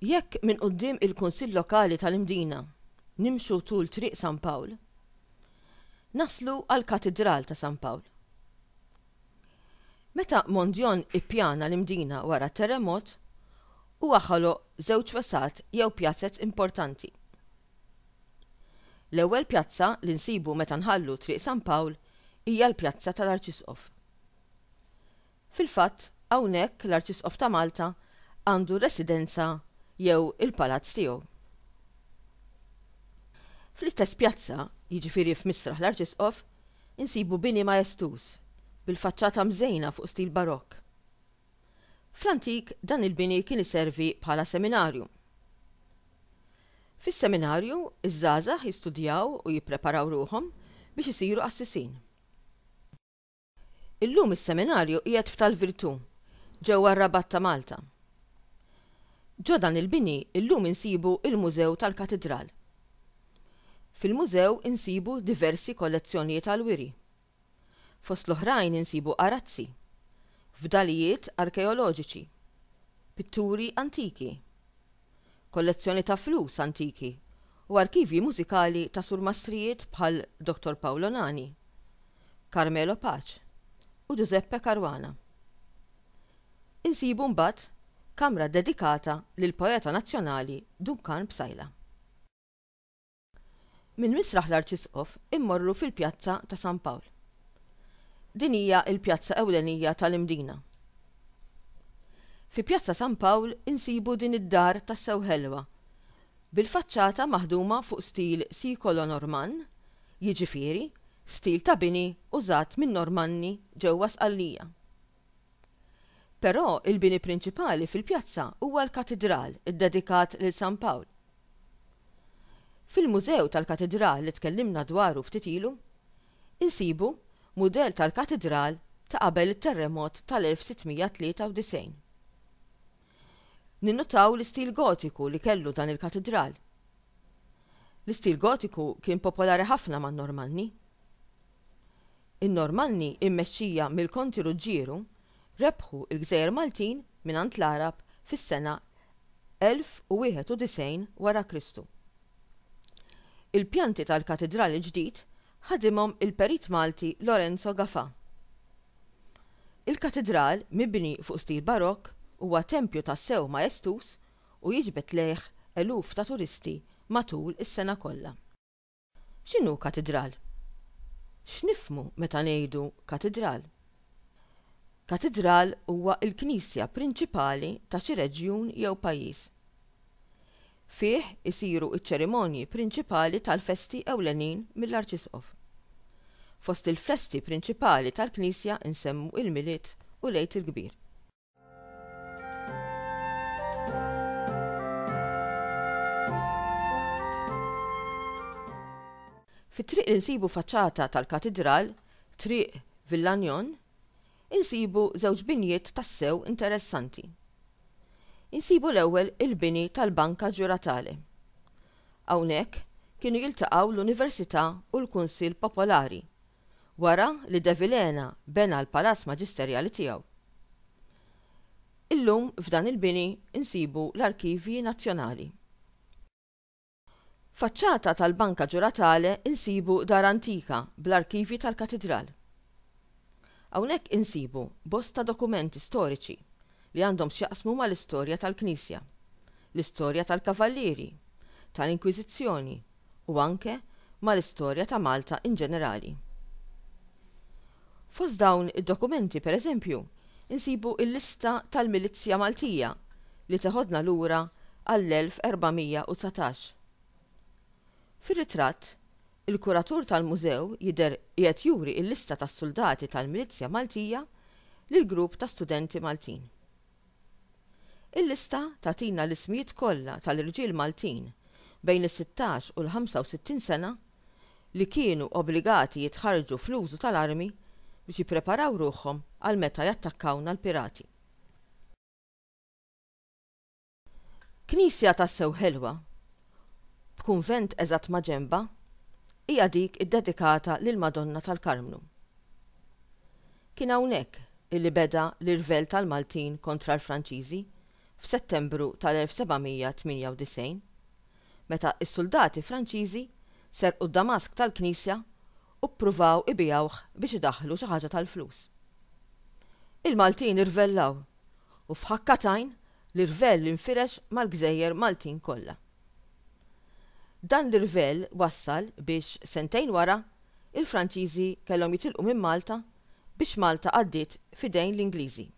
Jekk minn quddiem il-Kunsill Lokali tal-Imdina nimxu tul Triq San Pawl, naslu għall-Katidral ta' San Pawl. Meta Mondjon ippjana l-Imdina wara t-terremot, huwa ħoloq żewġ wesgħat jew pjazez importanti. L-ewwel pjazza li nsibu meta nħallu Triq San Pawl hija l-Pjazza tal-Arċisqof. Fil-fatt, hawnhekk l-Arċisqof ta' Malta għandu r-residenza jew il-palazz tiegħu. Fl-istess pjazza, jiġifieri f'Misraħ l-Arċisqof, insibu bini maestuż, bil-faċċata mżejna fuq stil Barokk. Fl-antik dan il-bini kien iservi bħala seminarju. Fis-seminarju, iż-żgħażagħ jistudjaw u jippreparaw ruħhom biex isiru qassisin. Illum is-Seminarju qiegħed f'Tal-Virtù, ġewwa r-Rabat ta' Malta. Ġo dan il-bini illum insibu il-Mużew tal-Katidral. Fil-Mużew insibu diversi kollezzjonijiet għall-wiri. Fost l-oħrajn insibu arazzi, fdalijiet arkeoloġiċi, pitturi antiki, kollezzjoni ta' flus antiki u arkivji mużikali ta' surmastrijiet bħal Dottor Paolo Nani, Carmelo Pace u Giuseppe Caruana. Insibu mbagħad kamra dedikata lill-poeta nazzjonali Duncan Psaila. Minn Misraħ l-Arċisqof immorru fil-Pjazza ta' San Pawl. Din hija l-pjazza ewlenija tal-Imdina. Fi Pjazza San Pawl insibu din id-dar tassew ħelwa, bil-faċċata maħduma fuq stil sikolo-Normann, jiġifieri, stil ta' bini użat min-Normanni ġewwa Sqallija. Però il-bini prinċipali fil-pjazza huwa l-katidral iddedikat lil San Pawl. Fil-mużew tal-katidral li tkellimna dwaru ftit ilu, insibu mudell tal-katidral ta' qabel it-terremot tal-1693. Ninnutaw l-istil Gotiku li kellu dan il-katidral. L-istil Gotiku kien popolari ħafna man-Normanni. In-Normanni mmexxija mill-Konti Ruġġieru rebħu l-Gżejjer Maltin mingħand l-Għarab fis-sena 1091 wara Kristu. Il-pjanti tal-katidral il-ġdid ħadimhom il-perit Malti Lorenzo Gafà. Il-katidral, mibni fuq stil Barokk, huwa tempju tassew maestuż u jiġbed lejh eluf ta' turisti matul is-sena kollha. X'inhu katidral? X'nifhmu meta ngħidu katidral? Katidral huwa l-knisja prinċipali ta' xi reġjun jew pajjiż. Fih isiru ċ-ċerimonji prinċipali tal-festi ewlenin mill-arċisqof. Fost il-festi prinċipali tal-knisja nsemmu l-Milied u l-Għid il-Kbir. Fit-triq li nsibu faċċata tal-Katidral, Triq Villanyon, insibu żewġ binjiet tassew interessanti. Insibu l-ewwel il-bini tal-Banca Giuratale. Hawnhekk kienu jiltaqgħu l-Università u l-Kunsill Popolari wara li De Vilhena bena l-palazz maġisterjali tiegħu. Illum f'dan il-bini nsibu l-Arkivji Nazzjonali. Faċċata tal-Banca Giuratale nsibu dar antika bl-arkivji tal-Katidral. Hawnhekk insibu bosta dokumenti storiċi li għandhom x'jaqsmu mal-istorja tal-Knisja, l-istorja tal-Kavallieri, tal-Inkwiżizzjoni, u anke mal-istorja ta' Malta in ġenerali. Fost dawn id-dokumenti, per eżempju, insibu l-lista tal-milizzja Maltija li teħodna lura għall-1419. Fir-ritratt, il-kuratur tal-mużew jidher qiegħed juri l-lista tas-suldati tal-milizzja Maltija lill-grupp ta' studenti Maltin. Il-lista tagħtina l-ismijiet kollha tal-irġiel Maltin bejn is-sittax u l-65 sena li kienu obbligati jitħarrġu fl-użu tal-armi biex jippreparaw ruħhom għal meta jattakkawna l-pirati. Knisja tassew ħelwa, b'kunvent eżatt maġenbha, hija dik iddedikata lill-Madonna tal-Karmnu. Kien hawnhekk li beda l-irvell tal-Maltin kontra l-Franċiżi f'Settembru tal-1798, meta s-suldati Franċiżi serqu d-damask tal-knisja u ppruvaw ibigħuh biex idaħħlu xi ħaġa tal-flus. Il-Maltin irvellaw u f'ħakka t'għajn L-irvell infirex mal-gżejjer Maltin kollha. Dan l-irvell wassal biex, sentejn wara, il-Franċiżi kellhom jitilqu minn Malta biex Malta għaddiet f'idejn l-Ingliżi.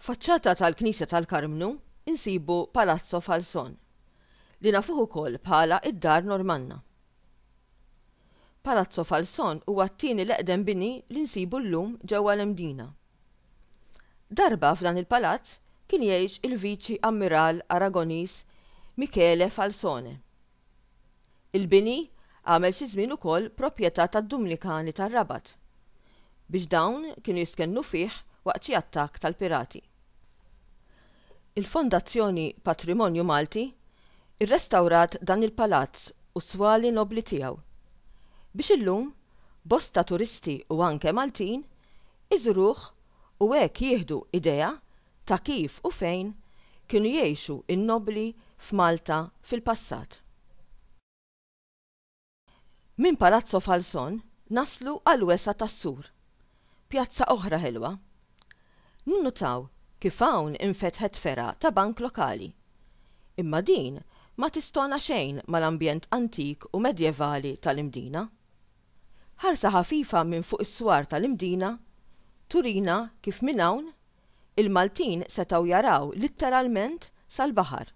Faċċata tal-Knisja tal-Karmnu insibu Palazzo Falzon, li nafuh ukoll bħala id-Dar Normanna. Palazzo Falzon huwa t-tieni l-eqdem bini li nsibu llum ġewwa l-Mdina. Darba f'dan il-palazz kien jgħix il-Viċi Ammiral Aragoniż Michele Falzone. Il-bini għamel xi żmien ukoll proprjetà tad-Dumnikani tar-Rabat biex dawn kienu jistkennu fih waqt xi attakk tal-pirati. Il-Fondazzjoni Patrimonju Malti rrestawrat dan il-palazz u s-swali nobbli tiegħu, biex illum bosta turisti u anke Maltin iżuruh u hekk jieħdu idea ta' kif u fejn kienu jgħixu n-nobbli f'Malta fil-passat. Minn Palazzo Falzon naslu għall-wesgħa tas-sur. Pjazza oħra ħelwa. Ninnutaw kif hawn infetħet fergħa ta' bank lokali. Imma din ma tistona xejn mal-ambjent antik u medjevali tal-Imdina. Ħarsa ħafifa minn fuq is-swar tal-Imdina turina kif minn hawn il-Maltin setgħu jaraw litteralment sal-baħar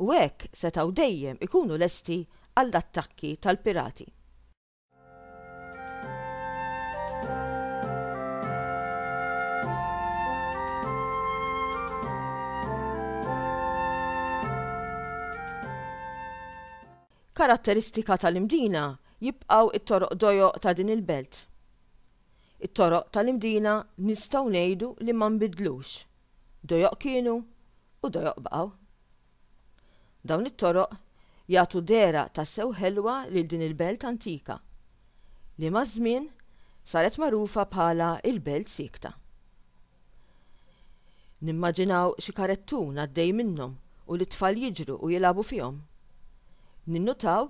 u hekk setgħu dejjem ikunu lesti għall-attakki tal-pirati. Karatteristika tal-Imdina jibqgħu t-toroq dojoq ta' din il-belt. It-toroq tal-Imdina nistgħu ngħidu li ma nbidlux, dojoq kienu u dojoq baqgħu. Dawn it-toroq jagħtu dehra tassew ħelwa lil din il-belt antika li maż-żmien saret magħrufa bħala l-Belt Siekta. Nimmaġinaw xi karettun għaddej minnhom u lit-tfal jiġru u jilagħbu fihom. Ninnutaw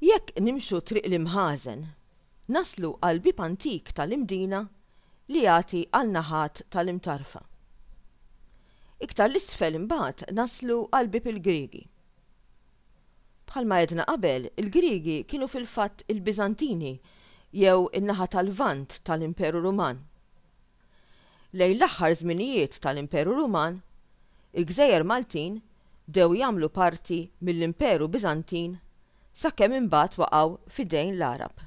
Jekk nimxu triq l-imħażen, naslu għal bieb antik tal-imdina li jagħti għal naħat tal-imtarfa. Iktar 'l isfel imbagħad naslu għal bieb il-Griegi. Bħalma għedna qabel, il-Griegi kienu fil-fatt il-Biżantini jew in-naħa tal-Lvant tal-Imperu Ruman. Lejn l-aħħar żminijiet tal-Imperu Ruman, il-gżejjer Maltin bdew jagħmlu parti mill-Imperu Biżantin sakemm imbagħad waqgħu f'idejn l-Għarab.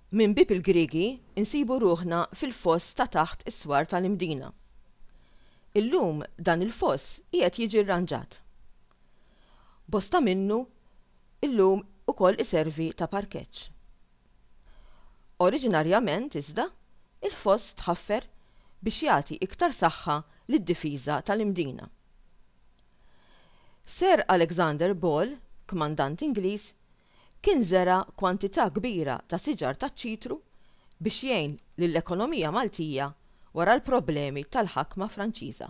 Minn bieb il-Griegi nsibu ruħna fil-foss ta' taħt is-swar tal-Imdina. Illum dan il-foss qiegħed jiġi rranġat. Bosta minnu llum ukoll iservi ta' parkeġġ. Oriġinarjament iżda, il-foss tħaffer biex jagħti iktar saħħa lid-difiża tal-Imdina. Sir Alexander Ball, kmandant Ingliż, kien żera' kwantità kbira ta' siġar taċ-ċitru biex jgħin lill-ekonomija Maltija wara l-problemi tal-ħakma Franċiża.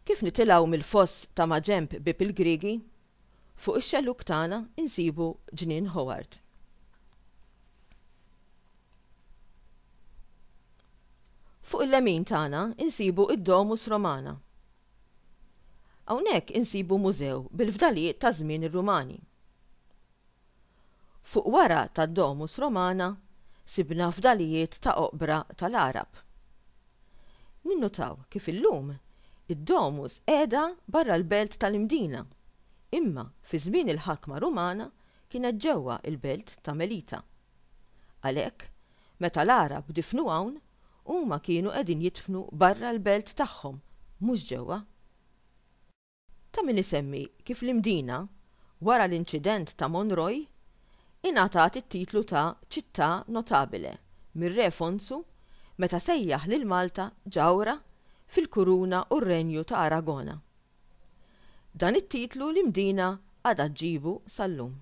Kif nitilgħu mill-foss ta' maġenb Bieb il-Griegi, fuq ix-xellug tagħna nsibu Ġnien Howard. Fuq il-lemin tagħna nsibu d-Domus Romana, Hawnhekk insibu mużew bil-fdalijiet ta' żmien ir-Rumani. Fuq wara tad-Domus Romana sibna fdalijiet ta' oqbra tal-Għarab. Ninnutaw kif illum id-Domus qiegħda barra l-belt tal-Imdina, imma fi żmien il-ħakma Rumana kienet ġewwa l-belt ta' Melita. Għalhekk, meta l-Għarab difnu hawn, Huma kienu qegħdin jidfnu barra l-belt tagħhom, mhux ġewwa. Ta' min isemmi kif l-Imdina, wara l-inċident ta' Monroy, ingħatat it-titlu ta' città notabile mir-Re Fonsu meta sejjaħ lil Malta ġawhra fil-Kuruna u r-Renju ta' Aragona. Dan it-titlu l-Imdina għadha ġġibu sal-lum.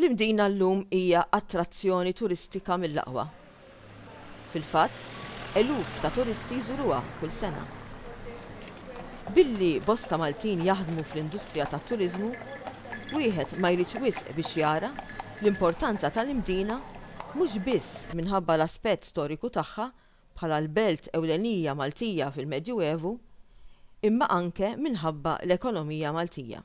L-Imdina llum hija attrazzjoni turistika mill-aqwa. Fil-fatt, eluf ta' turisti jżuruha kull sena. Billi bosta Maltin jaħdmu fl-industrija tat-turiżmu, wieħed ma jridx wisq biex jara l-importanza tal-Imdina mhux biss minħabba l-aspett storiku tagħha bħala l-belt ewlenija Maltija fil-Medjuevu, imma anke minħabba l-ekonomija Maltija.